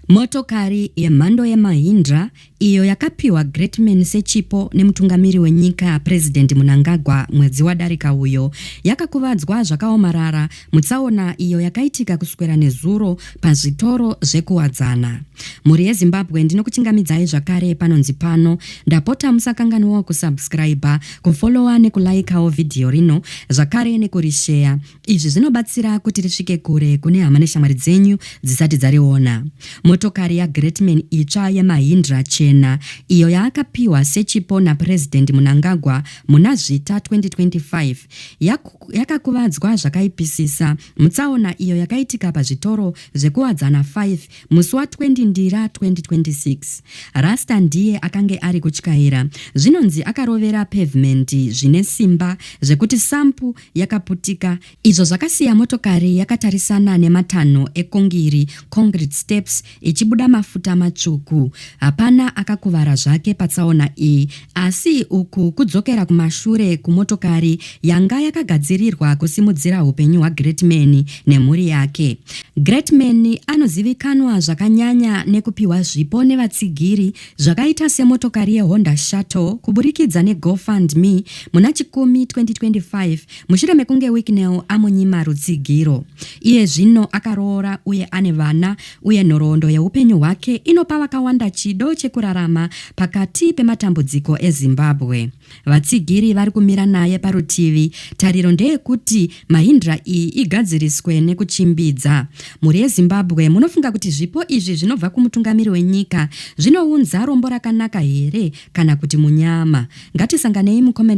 Motokari yemhando yeMahindra, iyo yakapiwa Greatman sechipo nemutungamiri wenyika President Mnangagwa mwedzi wadarika uyo, yakakuvadzwa zvakaomarara mutsaona iyo yakaitika kuswera nezuro pazvitoro zvekuWadzana. Mhuri yeZimbabwe ndinokuchingamidzai zvakare panonzi pano, ndapota musakanganwawo kusubscriber, kufollower nekulaikawo video rino zvakare nekurisheya. Izvi zvinobatsira kuti risvike kure kune hama neshamwari dzenyu dzisati dzariona. Motokari yaGreatman itsva yeMahindra chena iyo yaakapiwa sechipo naPresident Mnangagwa muna Zvita 2025 yak yakakuvadzwa zvakaipisisa mutsaona iyo yakaitika pazvitoro zvekuwadzana 5 musi wa 20 Ndira 2026. Rasta ndiye akange ari kutyaira zvinonzi akarovera pavement zvine simba zvekuti sampu yakaputika izvo zvakasiya motokari yakatarisana nematanho ekongiri concrete steps ichibuda mafuta matsvuku hapana akakuvara zvake patsaona iyi asi uku kudzokera kumashure kumotokari yanga yakagadzirirwa kusimudzira upenyu hwagreatman nemhuri yake greatman anozivikanwa zvakanyanya nekupiwa zvipo nevatsigiri zvakaita semotokari yeHonda Shuttle kuburikidza neGoFundMe muna Chikumi 2025 mushure mekunge Wicknell amunyima rutsigiro. Iye zvino akaroora uye ane vana uye nhoroondo yeupenyu hwake inopa vakawanda chido chekurarama pakati pematambudziko eZimbabwe. Vatsigiri vari kumira naye parutivi. Tariro ndeyekuti Mahindra iyi igadziriswe nekuchimbidza. Mhuri yeZimbabwe munofunga kuti zvipo izvi zvinobva kumutungamiri wenyika zvinounza rombo rakanaka here kana kuti munyama? Ngatisanganei mucomment